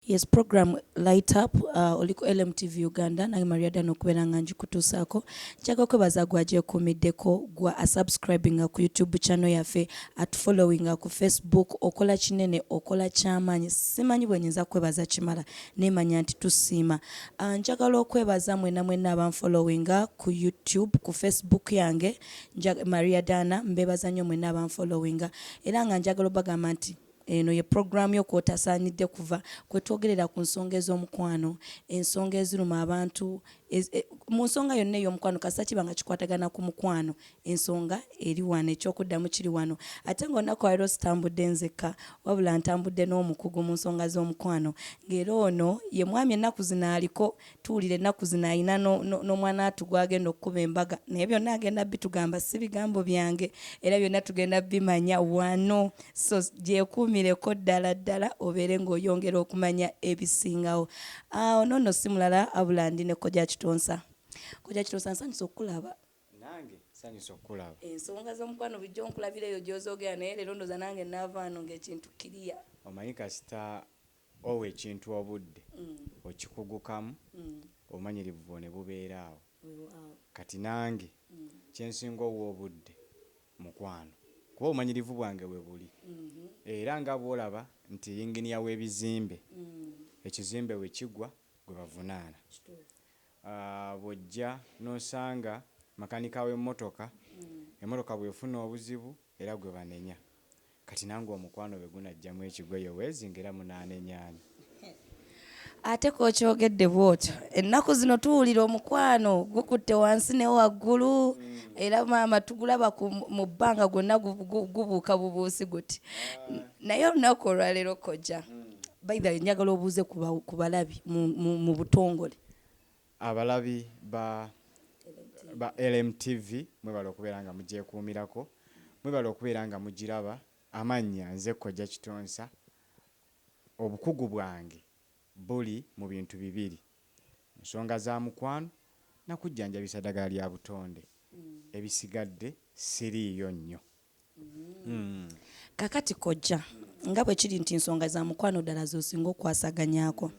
Yes program light up uh, oli ku LM TV Uganda nange Maria Dan okubeera nga njikutuusaako njaga kwebaza gwa gyekuumiddeko gwa asubscribinga ku YouTube channel yaffe atufollowinga ku Facebook okola kinene okola kyamaanyi simanyi bwe nyinza kwebaza kimala nemanya nti tusiima uh, njagala okwebaza mwena mwena abanfollowinga ku YouTube ku Facebook yange Maria Dana mbebaza nnyo mwena abanfollowinga era nga njagala obagamba nti Eno ye pulogulaamu yo kw'otasaanidde kuva, kwe twogerera ku nsonga ez'omukwano, ensonga eziruma abantu, ez, e, mu nsonga yonna ey'omukwano, kasita kiba nga kikwatagana ku mukwano, ensonga eri wano, eky'okuddamu kiri wano. Ate nga olunaku olwaleero sitambudde nzekka, wabula ntambudde n'omukugu mu nsonga z'omukwano, ng'era ono ye mwami ennaku zino aliko tuwulira ennaku zino alina n'omwanaatu gw'agenda okukuba embaga naye byonna agenda bitugamba si bigambo byange era byonna tugenda bimanya wano so gyekuumireko ddala ddala obeere ng'oyongera okumanya ebisingawo awo ah, noono si mulala abula ndi ne kojja kitonsa kojja kitonsa nsanyusa okukulaba nange nsanyusa okukulaba ensonga z'omukwano bujja onkulabira eyo gy'ozoogera naye leero ndoza nange naavaano ng'ekintu kiriya omanyi kasita Owa ekintu obudde, okikugukamu, obumanyirivu bwo ne bubeera awo. Kati nange kye nsinga owa obudde mukwano kuba obumanyirivu bwange we buli era nga bw'olaba nti yinginiya w'ebizimbe ekizimbe we kigwa gwe bavunaana. Bw'ojja n'osanga makanika w'emmotoka, emmotoka bw'efuna obuzibu era gwe banenya. Kati nange omukwano bwegunajjamu ekigwo ye wezi nga era munanenya ani. Ate kokyogedde bwotyo ennaku zino tuwulira omukwano gukutte wansi ne waggulu mm. era maama tugulaba mu bbanga gwonna gubuuka bubuusi guti ah. naye olunaku olwaleero kojja mm. baitha njagala obuuze ku balabi mu butongole Abalabi ba ba LMTV mwebale okubeera nga mugyekuumirako, mwebale okubeera nga mugiraba, amannya nze Kojja Kitonsa, obukugu bwange buli mu bintu bibiri, nsonga za mukwano na kujjanjabisa ddagala lya butonde, ebisigadde siriiyo nnyo. Mm. Kakati kojja nga bwe kiri nti nsonga za mukwano ddala z'osinga okukwasaganyaako,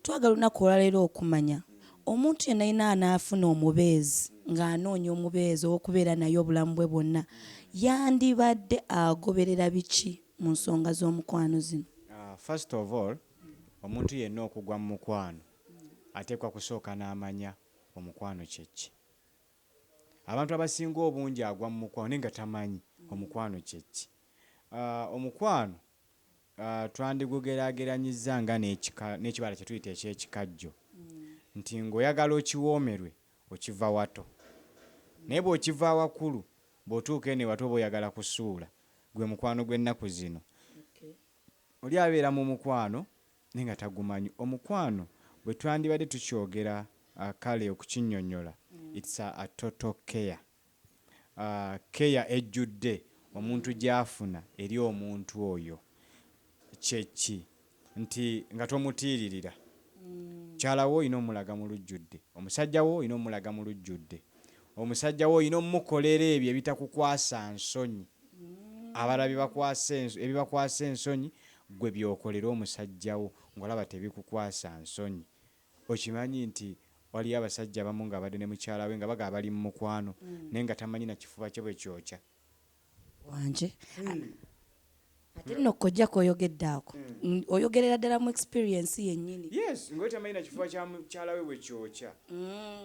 twagala olunaku olwaleero okumanya omuntu yenna yenna anaafuna omubeezi ng'anoonya omubeezi ow'okubeera naye obulamu bwe bwonna yandibadde agoberera biki mu nsonga z'omukwano zino? Ah, first of all, omuntu yenna okugwa mu mukwano ateekwa kusooka n'amanya omukwano kye ki. Abantu abasinga obungi agwa mu mukwano naye nga tamanyi omukwano kye ki. Omukwano twandigugeraageranyizza nga n'ekika, n'ekibala kye tuyita eky'ekikajjo nti ng'oyagala okiwoomerwe okiva wato naye bw'okiva awakulu bw'otuuka eno ewato oba oyagala kusuula. Gwe mukwano gw'ennaku zino. Oli abeera mu mukwano naye nga tagumanyi omukwano bwetwandibadde tukyogera kale okukinyonyola it's a total care care ejjudde omuntu gyafuna eri omuntu oyo kye ki nti nga tomutiiririra mukyala wo olina omulaga mu lujjudde omusajja wo olina omulaga mu lujjudde omusajja wo olina omukolera ebyo ebitakukwasa nsonyi abalala ebibakwasa ensonyi Ggwe by'okolera omusajja wo ng'olaba tebikukwasa nsonyi, okimanyi nti waliyo abasajja abamu ng'abadde ne mukyala we nga bagamba bali mu mukwano naye nga tamanyi na kifuba kye bwe kyokya. Wangi. Ate nno kkojja k'oyogedde ako oyogerera ddala mu experience yennyini. Yes, nga oli tamanyi na kifuba kya mukyala we bwe kyokya.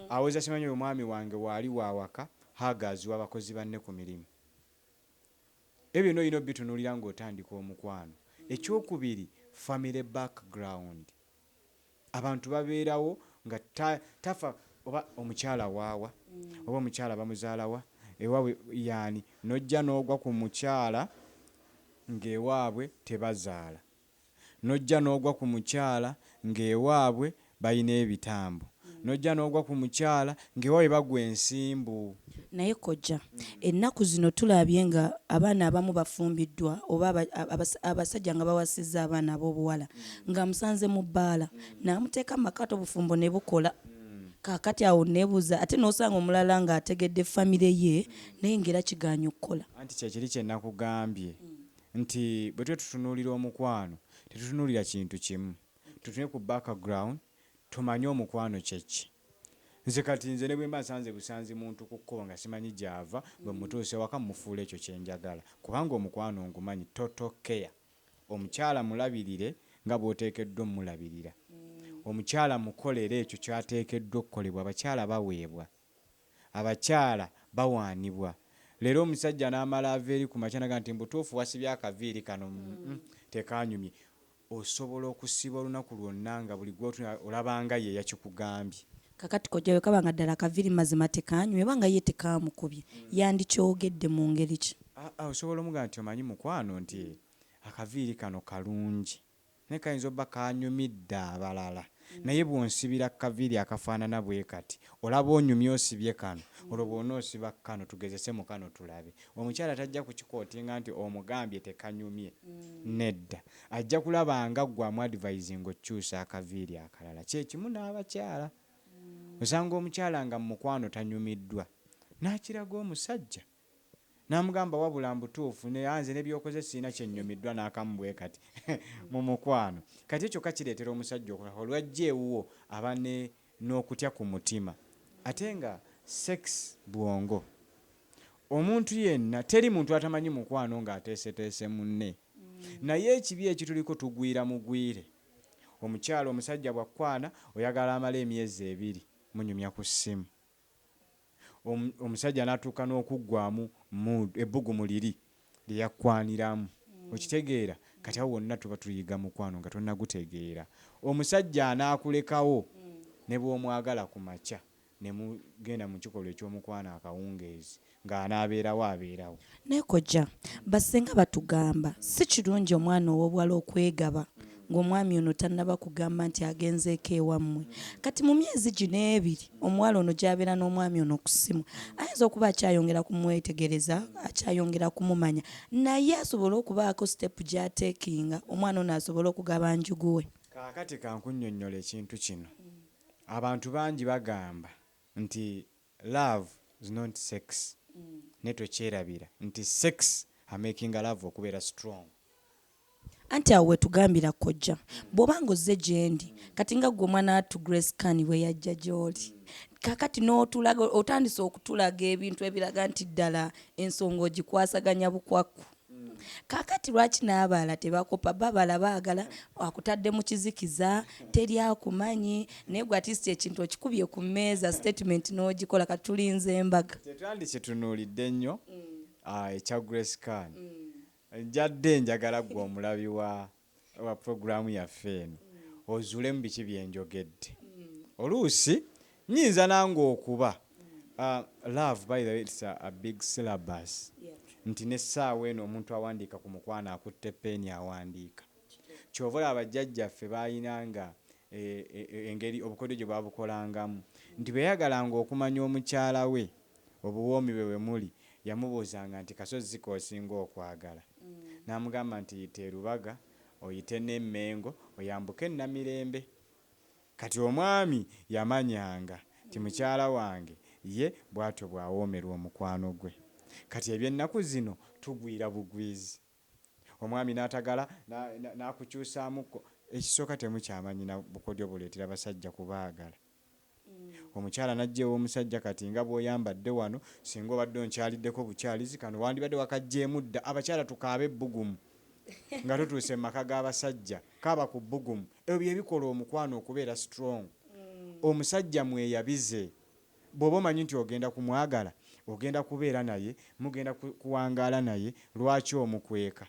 Awoza simanyi oyo mwami wange waali wa waka, huggers w'abakozi banne ku mirimu. Ebyo byona olina obitunulira nga otandika omukwano. Ekyokubiri family back ground abantu baberawo nga tafa oba omukyala waawa oba omukyala bamuzalawa ewabwe yani nojja nogwa kumukyala nga ewabwe tebazaala. nojja nogwa ku mukyala ng'ewaabwe balina ebitambo, nojja nogwa ku mukyala ng'ewaabwe bagwa ensimbu. Naye kojja, ennaku zino tulabye nga abaana abamu bafumbiddwa oba abasajja nga bawasizza abaana ab'obuwala ng'amusanze mu bbaala n'amuteeka mu maka ate obufumbo ne bukola. Kaakati awo nneebuuza ate n'osanga omulala ng'ategedde famire ye naye ng'era kigaanyi okukola. Anti kye kiri kye nakugambye. nti bwe tuba tutunuulira omukwano tetutunuulira kintu kimu, tutunule ku background tumanye omukwano kye ki. Nze kati nze ne bwe mba nsanze busanzi muntu ku kkubo nga simanyi gy'ava, bwe mmutuusa ewaka mmufuula ekyo kye njagala kubanga omukwano ngumanyi, total care. Omukyala mulabirire nga bw'oteekeddwa ommulabirira. Omukyala mukolere ekyo ky'ateekeddwa okukolebwa, abakyala baweebwa. abakyala bawaanibwa leero omusajja n'amala ava eri ku makya n'agamba nti mu butuufu wasibye akaviiri kano mm tekaanyumye. Osobola okusiiba olunaku lwonna nga buli gw'otunuulira olaba nga ye yakikugambye. Kaakati kojja bwe kaba nga ddala akaviiri mazima tekaanyumye oba nga ye tekaamukubye yandikyogedde mu ngeri ki? Osobola omugamba nti omanyi mukwano nti akaviiri kano kalungi. Naye kayinza obba kanyumidde abalala naye bwonsibira kukaviiri akafaanana bwekati olaba onyumye osibye kano olwo bwonoosiba kukano tugezese mukano tulabe omukyala tajja kukikotinga nti omugambye tekanyumye nedda ajja kulaba nga gwe amu advisinga okukyusa akaviiri akalala kyekimu n'abakyala osanga omukyala nga mumukwano tanyumiddwa nakiraga omusajja Namugamba wabula mbutuufu ne anze ne byokoze sirina kyenyumiddwa nakamu bwekati mu mukwano kati ekyo kyokka kireetera omusajja okukaaba lwajja ewuwo aba ne nokutya ku mutima ate nga sex bwongo omuntu yenna teri muntu atamanyi mukwano nga ateeseteese munne naye ekibi ekituliko tugwira mugwire omukyala omusajja bwakukwana oyagala amale emyezi ebiri munyumya ku ssimu omusajja natuuka n'okuggwaamu mood ebbugumu liri lyeyakkwaniramu okitegeera kati awo wonna tuba tuyiga mukwano nga tonagutegeera omusajja anaakulekawo nebwomwagala kumakya nemugenda mukikolwa ekyomukwano akawungeezi Nga anaabeerawo abeerawo. Naye kojja, ba ssenga batugamba si kirungi omwana ow'obuwala okwegaba ng'omwami ono tannaba kugamba nti agenzeeko ewammwe. Kati mu myezi gino ebiri omuwala ono gy'abeera n'omwami ono ku ssimu, ayinza okuba akyayongera kumwetegereza, akyayongera kumumanya naye asobole okubaako sitepu gy'ateekinga omwana ono asobole okugaba njugu we. Kaakati ka nkunnyonnyole ekintu kino. Abantu bangi bagamba nti Love is not sex naye tokyerabira nti sex amakinga love okubeera strong. Anti awo wetugambira kojja bwoba nga ozze gyendi kati nga gwe omwana wattu Grace Khan bweyajja gyoli kakati notulaga otandise okutulaga ebintu ebiraga nti ddala ensonga ogikwasaganya bukwakku. kakati lwaki n'abaala tebakopa babala baagala akutadde mu kizikiza teri akumanyi naye gwe atist ekintu okikubye ku mmeeza statement n'ogikola kati tulinze embaga tetwandikitunuulidde nnyo mm. ah, ekya grace kan mm. njadde njagala gwe omulabi wa wa pulogulaamu yaffe eno ozuulemu biki bye njogedde. Oluusi nnyinza nange okuba, laavu by the way it's a big syllabus, nti n'essaawa eno omuntu awandiika ku mukwano akutte ppeeni awandiika. Ky'ova olaba bajjajjaffe baalinanga engeri obukodyo gye babukolangamu nti bwe yayagalanga okumanya omukyala we, obuwoomi bwe we muli, yamubuuzanga nti, Kasozi ki k'osinga okwagala? N'amugamba nti, Yita e Lubaga, oyite n'e Mmengo, oyambuke e Namirembe. Kati omwami yamanyanga nti mukyala wange ye bw'atyo bw'awoomerwa omukwano gwe. Kati eby'ennaku zino tugwira bugwizi, omwami n'atagala n'akukyusaamuko. Ekisooka temukyamanyi na bukodyo buleetera basajja kubaagala. omukyala n'ajja ew'omusajja kati nga bw'oyambadde wano, ssinga obadde onkyaliddeko bukyalizi kano wandibadde wakaggyeemu dda. Abakyala tukaabe ebbugumu nga tutuuse mu maka g'abasajja. Kaaba ku bbugumu. Ebyo bye bikola omukwano okubeera strong. Omusajja mweyabize. Bw'oba omanyi nti ogenda kumwagala, ogenda kubeera naye, mugenda kuwangaala naye, lwaki omukweka?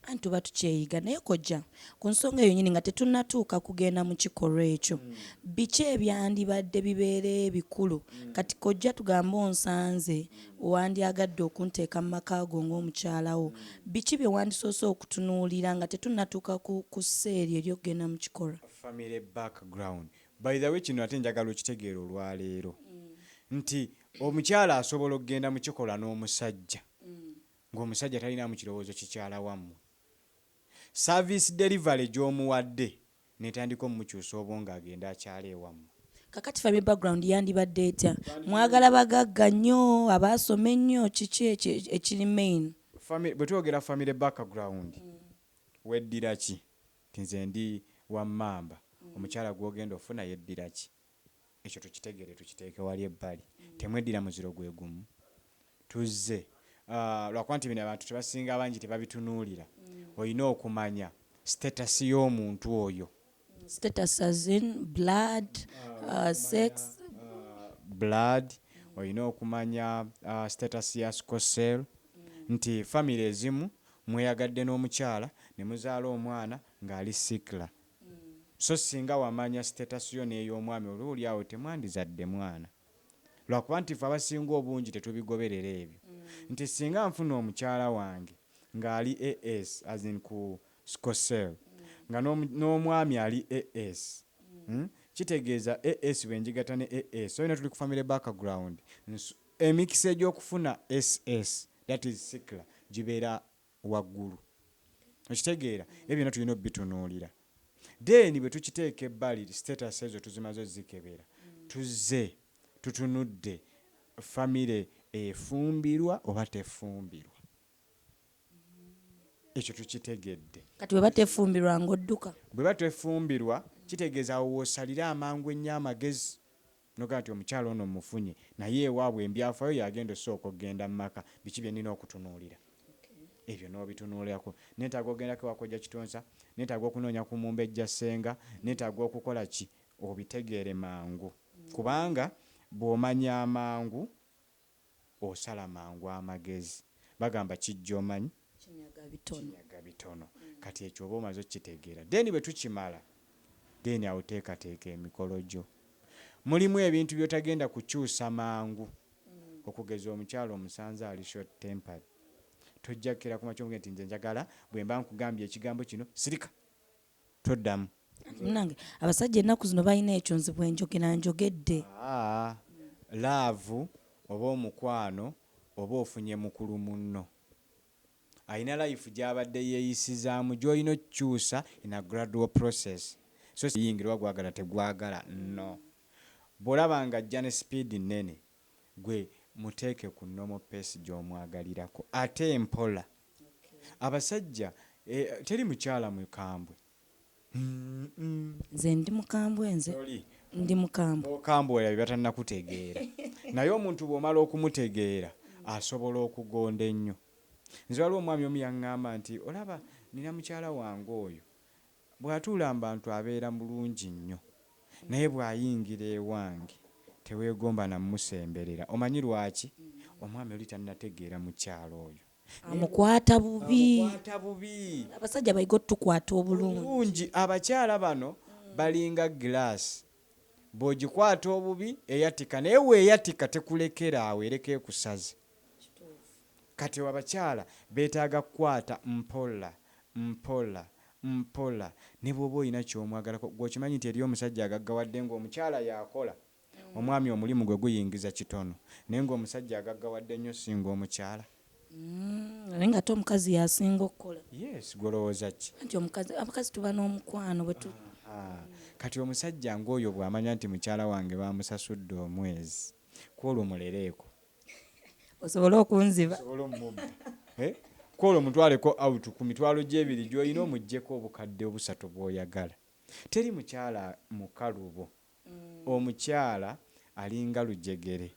Anti tuba tukyeyiga. Naye kojja, ku nsonga eyo nyini nga tetunnatuuka kugenda mu kikolwa ekyo, mm. biki ebyandibadde bibeera ebikulu? Mm. Kati kojja tugambe onsanze, mm. wandyagadde okunteeka mu maka go ng'omukyala wo, mm. biki bye wandisoose okutunuulira nga tetunnatuuka ku, ku seeri ery'okugenda mu kikolwa? Family background. By the way, kino ate njagala okitegeera olwaleero mm. nti omukyala asobola okugenda mu kikolwa n'omusajja mm. Nga omusajja talinaamu kirowoozo kikyala wammwe, service delivery gy'omuwadde n'etandika omukyusa obwongo agende akyale ewammwe. Kakati family background yandibadde etya? Mwagala bagagga nnyo, abaasoma ennyo, kiki ekiri main? Family, bwe twogera family background, weddira ki? Nti nze ndi wa Mmamba, omukyala gw'ogenda ofuna yeddira ki? Ekyo tukitegeere tukiteeke wali ebbali. Temweddira muziro gwe gumu. Tuzze lwakuba nti bino abantu tebasinga abangi tebabitunuulira. Olina okumanya status y'omuntu oyo. Status as in blood, sex? Blood, olina okumanya status ya sickle cell. Nti famire ezimu mweyagadde n'omukyala ne muzaala omwana ng'ali sickler. so singa wamanya status yo n'ey'omwami oluuli awo temwandizadde mwana lwakuba nti ffe abasinga obungi tetubigoberera ebyo nti singa nfuna omukyala wange nga ali AS as in ku sco cell nga n'omwami ali AS kitegeeza AS bwenjigatta ne AS so yona tuli ku family back ground nsu emikisa egy'okufuna SS that is sickla gibeera waggulu. Okitegeera? Ebyo byonna tulina obitunuulira. Then bwe tukiteeka ebbali, status ezo tuzimaze ozikebera, tuzze tutunudde family efumbirwa oba tefumbirwa. Ekyo tukitegedde. Kati bweba tefumbirwa ng'odduka? Bweba tefumbirwa kitegeeza awo w'osalira amangu ennyo amagezi. Nogamba nti omukyala ono mmufunye naye ewaabwe embyafayo yagenda osooka okugenda mumaka biki byenina okutunuulira ebyo nobitunuulirako netaaga ogendako ewa kojja kitonsa netaaga okunoonya ku mumbejja ssenga netaaga okukola ki obitegeere mangu kubanga bwomanya amangu osala mangu amagezi bagamba kijja omanyi kinyaga bitono kati ekyo oba omaze okitegeera then bwetukimala then awo teekateeka emikolo gyo mulimu ebintu byotagenda kukyusa mangu okugeza omukyala omusanze ali short tempered tojja kukera kumakya omugee nti nze njagala bwemba nkugambye ekigambo kino sirika toddamu. Anti munange abasajja ennaku zino balina ekyo nze bwenjogera njogedde. Haa laavu oba omukwano oba ofunye mukulu munno alina life gyabadde yeyisizaamu gyolina okukyusa in a gradual process so siyingira oba gwagala tegwagala no bwolaba nga ajja ne speed nnene gwe muteeke ku normal pace gyomwagalirako ate mpola. Abasajja eh teri mukyala mukambwe uhmm. Nze ndi mukambwe nze ndi mukambwe. Bokambwe olabye batanakutegeera naye omuntu bwomala okumutegeera asobola okugonda ennyo. Nze waliwo omwami omu yangamba nti olaba nina mukyala wange oyo bwatuula mubantu abeera bulungi nnyo naye bwayingira ewange tewegomba namusemberera omanyi lwaki omwami oli tanategeera mukyala oyo. amukwata bubi amukwata bubi abasajja bayige otukwata obulungi bulungi abakyala bano balinga glass bwogikwata obubi eyatika naye weyatika tekulekera awo ereka ekusaze kati abakyala betaaga kukwata mpola mpola mpola nebwoba olina kyomwagalako gwe okimanyi nti eriyo omusajja agaggawadde nga omukyala yakola Omwami omulimu gwe guyingiza kitono naye ng'omusajja agaggawadde nnyo ssinga omukyala. Naye ng'ate omukazi y'asinga okukola. Yes, ggwe olowooza ki? Anti omukazi, abakazi tuba n'omukwano bwe tu. Ahaa. Kati omusajja ng'oyo bw'amanya nti mukyala wange baamusasudde omwezi, ku olwo mulereeko. Osobole okunziba. Nsobole ommubba. He? Ku olwo mutwaleko out ku mitwalo gye ebiri gy'olina omuggyeko obukadde obusatu bw'oyagala. Teri mukyala mukalubo. Omukyala alinga lujegere.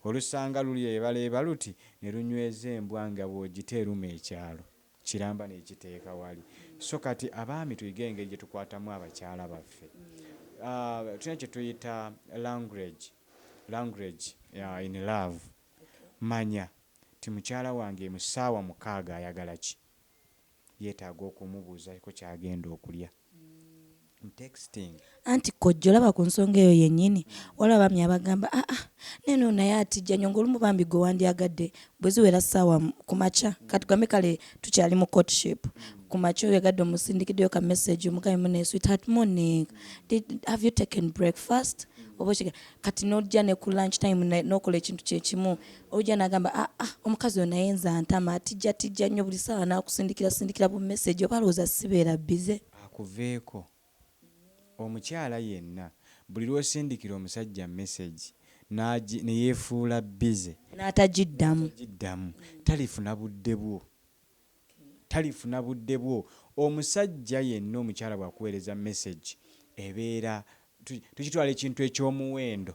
Olusanga lulyebaleeba luti ne lunyweza embwa nga bw'ogita eruma ekyalo, kiramba n'ekiteeka wali. So kati abaami tuyige engeri gye tukwatamu abakyala baffe. Tulina kye tuyita language, language in love. Manya nti mukyala wange mu ssaawa mukaaga ayagala ki. yetaaga okumubuuzako kyagenda okulya am texting. Anti kojja olaba kunsonga eyo yenyini waliwo abaami abagamba aa naye nono naye atijja nyo nga olumu bambi gwe wandyagadde bweziwera saawa kumakya katugambe kale tukyali mu courtship kumakya oyagadde omusindikiddeyo ka message omugambe munaye sweetheart morning did have you taken breakfast oba kati nojja ne ku lunch time nokola ekintu kyekimu Ojja nagamba ah ah omukazi ono naye nze antama atijja tijja nnyo buli saawa nakusindikira sindikira bu message oba alowooza sibeera busy. Akuveeko. Omukyala yenna buli lwosindikira omusajja message nagi neyefuula busy N'atagiddamu. n'atagiddamu talifuna budde bwo. talifuna budde bwo omusajja yenna omukyala bwakuweereza message ebeera tukitwala ekintu ekyomuwendo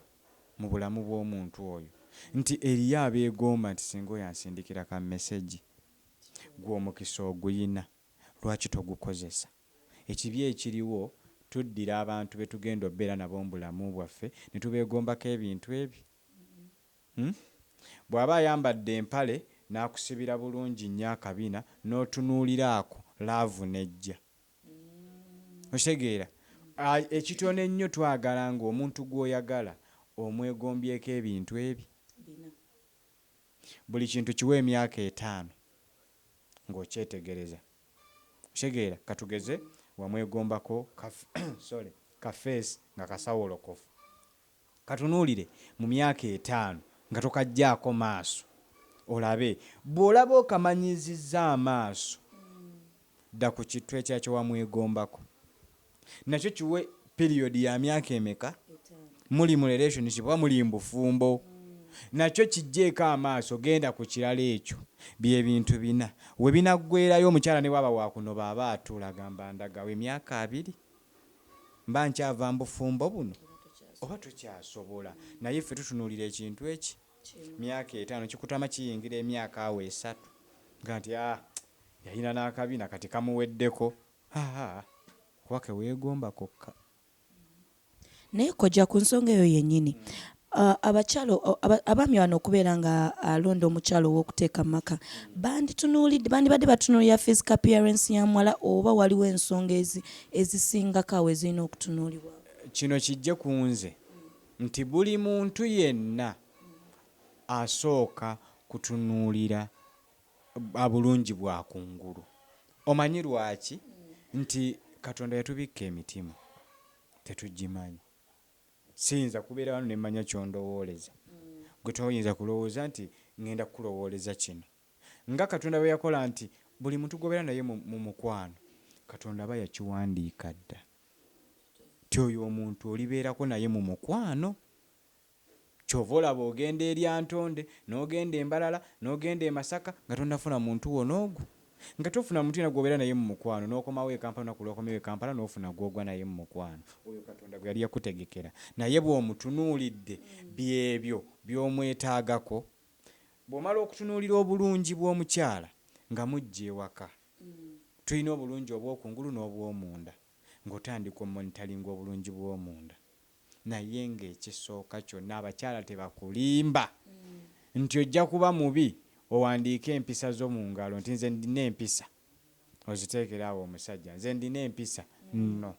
mu bulamu bwomuntu oyo nti eriyo abeegomba nti singa oyo ansindikira ka message gwe omukisa oguyina lwaki togukozesa ekibi ekiriwo tuddira abantu betugenda obeera nabo mubulamu bwaffe netubeegombako ebintu ebyo Uhmm bwaba ayambadde empale nakusibira bulungi nnyo akabina notunuulira ako love nejja okitegeera ekitono ennyo twagala nga omuntu gwoyagala omwegombyeko ebintu ebi bina buli kintu kiwe emyaka etaano nga okyetegereza okitegeera katugeze wamwegombako ka sorry ka face nga kasawolokofu. Katunuulire mu myaka etaano nga tokaggyaako maaso olabe. Bw'olaba okamanyiizizza amaaso, dda ku kittu ekirala kye wamwegombako. Nakyo kiwe period ya myaka emeka, muli mu relationship oba muli mu bufumbo, nakyo kiggyeeko amaaso, genda ku kirala. Ekyo bye bintu bina we binaggweerayo. Omukyala ne bw'aba wa kunoba aba atuula agamba ndagawa emyaka abiri? mba nkyava mubufumbo buno oba tokyasobola naye ffe tutunulira ekintu eki myaka etano kikutama kiyingira emyaka awo esatu nga nti haa yalina nakabina kati kamuweddeko haa kuba kewegomba kokka. Naye kojja kunsonga eyo yenyini Abakyala, abaami bano okubeera nga alonda omukyala ow'okuteeka mu maka, banditunuulidde, bandibadde batunuulira physical appearance ya muwala oba waliwo ensonga ezi, ezisingako awo ezirina okutunuulibwako? Kino kijje ku nze nti buli muntu yenna asooka kutunuulira bulungi bwa ku ngulu. Omanyi lwaki? Nti Katonda yatubikka emitima, tetugimanyi. Siyinza kubeera wano ne manya ky'ondowooleza. Ggwe toyinza kulowooza nti ŋŋenda kukulowooleza kino. Nga Katonda bwe yakola nti buli muntu gw'obeera naye mu, mu mukwano, Katonda aba yakiwandiika dda nti oyo omuntu olibeerako naye mu mukwano. Kyova olaba ogenda e Lyantonde, nogenda e Mbarara, nogenda e Masaka nga tonafuna muntu wo nogu nga tofuna muntu yena gwobera naye mumukwano nokomawo e Kampala olunaku lwokomawo e Kampala nofuna gwogwa naye mumukwano oyo Katonda gweyali yakutegekera naye bwomutunulidde byebyo byomwetagako bwomala okutunulira obulungi bwomukyala nga mujja ewaka tulina obulungi obwokungulu nobwomunda ngotandika omonitalinga obulungi bwomunda. Naye ng'ekisooka kyonna abakyala tebakulimba nti ojja kuba mubi owandiike empisa zo mu ngalo nti nze ndina empisa oziteekere awo omusajja nze ndina empisa no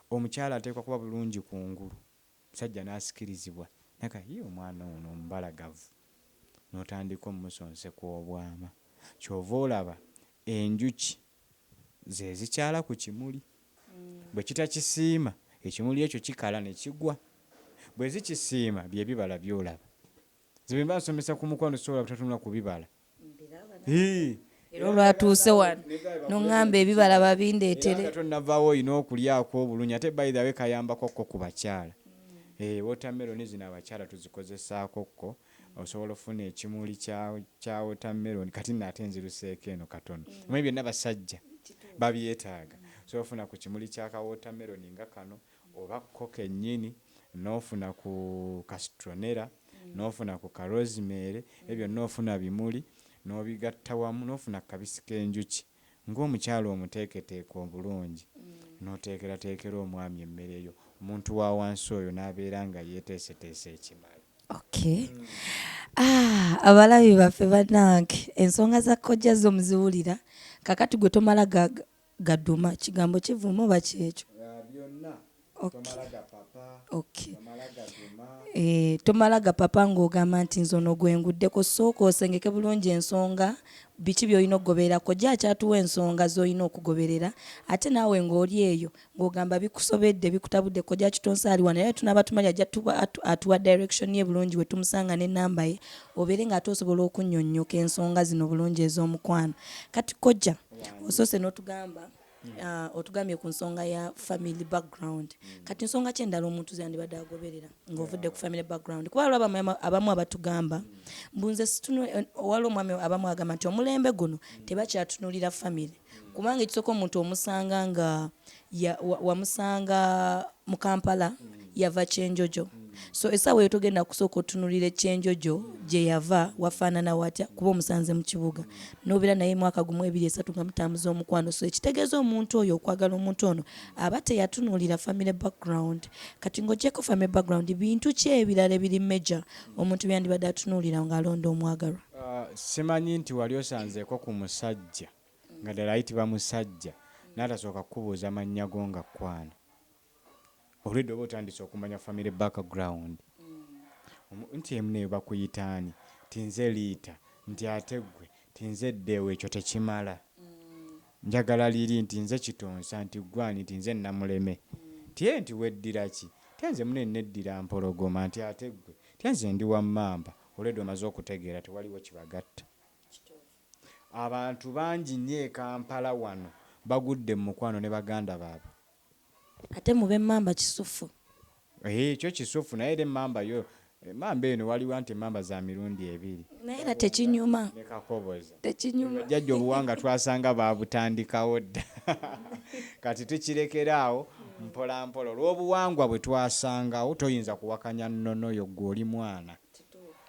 omukyala ateekwa kuba bulungi ku ngulu omusajja n'asikirizibwa naye kati yii omwana ono omubalagavu n'otandika omusonseka obwama ky'ova olaba enjuki ze zikyala ku kimuli. Bwe kitakisiima, ekimuli ekyo kikala ne kigwa. Bwe zikisiima, bye bibala by'olaba. Nze bwe mba nsomesa ku mukwano sisobola butatunula ku bibala. Hii! Era olwatuuse wano n'oŋŋamba ebibala babindeetere. Era nga tonnavaawo olina okulyako obulungi ate by the way kayambako ko ku bakyala. Eeh wootameroni zino abakyala tuzikozesaako ko osobola ofuna ekimuli kya kya watermelon kati nno ate nziruseeko eno katono omanyi byonna basajja babyetaaga osobola ofuna ku kimuli kya ka watermelon nga kano oba ko kennyini n'ofuna ku ka citronella n'ofuna ku ka rosemary ebyo byonna ofuna bimuli n'obigatta wamu n'ofuna ku kabisi k'enjuki ng'omukyala omuteeketeeke obulungi n'oteekerateekera omwami emmere yo, omuntu wa wansi oyo n'abeera nga yeeteeseteese ekimala. Okay. Ah, abalabi baffe banange ensonga za kojja zo muziwulira kakati gwe tomala ga, gaduma kigambo kivuma oba kyekyo. Eh, tomala gapapa ng'ogamba nti nze ono gwe nguddeko sooka osengeke bulungi ensonga biki by'olina okugobererako gye akyatuwa ensonga z'olina okugoberera ate naawe ng'oli eyo ng'ogamba bikusobedde bikutabudde kojja kitonsa ali wano era tunaaba tumanya ajja atuwa direction ye bulungi we tumusanga n'ennamba ye obeere ng'ate osobola okunnyonnyoka ensonga zino bulungi ez'omukwano kati kojja osoose n'otugamba Uh, otugambye ku nsonga ya family background mm. kati nsonga ki endala omuntu zeyandibadde agoberera ng'ovudde ku family background kuba waliwo abamu abatugamba mm. mbu nze eh, waliwo omwami abamu agamba nti omulembe guno mm. tebakyatunulira family mm. kubanga ekisooka omuntu omusanga nga wamusanga wa mu kampala mm. yava kyenjojo so esawa eyo togenda kusooka otunulira ekyenjojo gyeyava wafaanana watya kuba omusanze mu kibuga nobeera naye mwaka gumu ebiri esatu nga mutambuza omukwano so ekitegeeza omuntu oyo okwagala omuntu ono aba teyatunulira family background kati ngaogyeko family background bintu ki ebirala ebiri major omuntu byandibadde atunulira ngaalonda omwagalwa uh, simanyi nti wali osanzeeko ku musajja nga ddala ayitibwa musajja naatasooka kukubuuza mannya go nga kwana Already oba otandise okumanya family back ground nti emu neyo bakuyita ani nti nze liita nti ate gwe nti nze deo ekyo tekimala njagala liri nti nze kitonsa nti gwe ani nti nze namuleme nti eeh nti weddira ki nti nze mune neddira mpologoma nti ate gwe nti nze ndi wa mamba already omaze okutegeera tewaliwo kibagatta. Abantu bangi nnyo e Kampala wano bagudde mu mukwano ne baganda baabwe. Ate mu b'emmamba kisuffu. Eeh kyo kisuffu naye era emmamba yo Emmamba eno waliwo anti emmamba za mirundi ebiri. Naye era tekinyuma. Ne Kakoboza. Tekinyuma. Bino jjajja obuwanga twasanga baabutandikawo dda kati tukirekera awo mpolampola olw'obuwangwa bwe twasangawo toyinza kuwakanya nnono yo ggwe oli mwana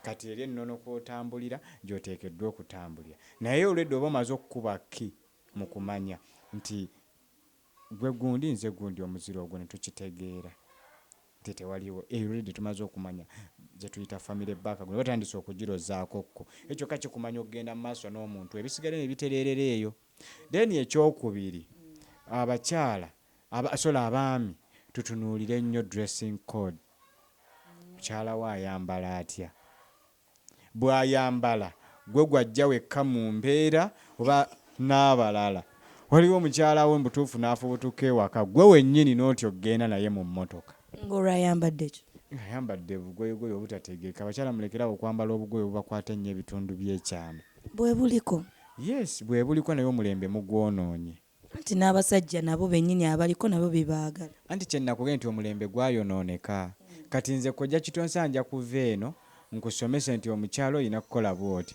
kati eri ennono kw'otambulira gy'oteekeddwa okutambulira naye olwedda oba omaze okukuba kki mu kumanya nti Gwe gundi nze gundi omuziro ogwo netukitegeera nti tewaliwo eyo already tumaze okumanya gyetuyita family back group batandise okugirozaako ko ekyo kyokka kikumanya okugenda mu maaso n'omuntu ebisigadde nebitereerera eyo then ekyokubiri abakyala aba sorry abaami tutunuulire nnyo dressing code mukyala wo ayambala atya. bwayambala gwe gwajja wekka mu mbeera oba n'abalala waliwo mukyala wo mubutuufu n'afubutuka ewaka gwe wennyini n'otya okugenda naye mu mmotoka ng'olwayambadde ki? ng'ayambadde bugoyegoye obutategeeka abakyala mulekere awo okwambala obugoye obubakwata ennyo ebitundu by'ekyama. Bwebuliko. Yes bwebuliko naye omulembe mugwonoonye. Anti n'abasajja nabo bennyini abaliko nabo bibaagala. Anti kye nnakugee nti omulembe gwayonooneka. Kati nze Kojja Kitonsa nja kuva eno nkusomese nti omukyala olina kukola bw'oti.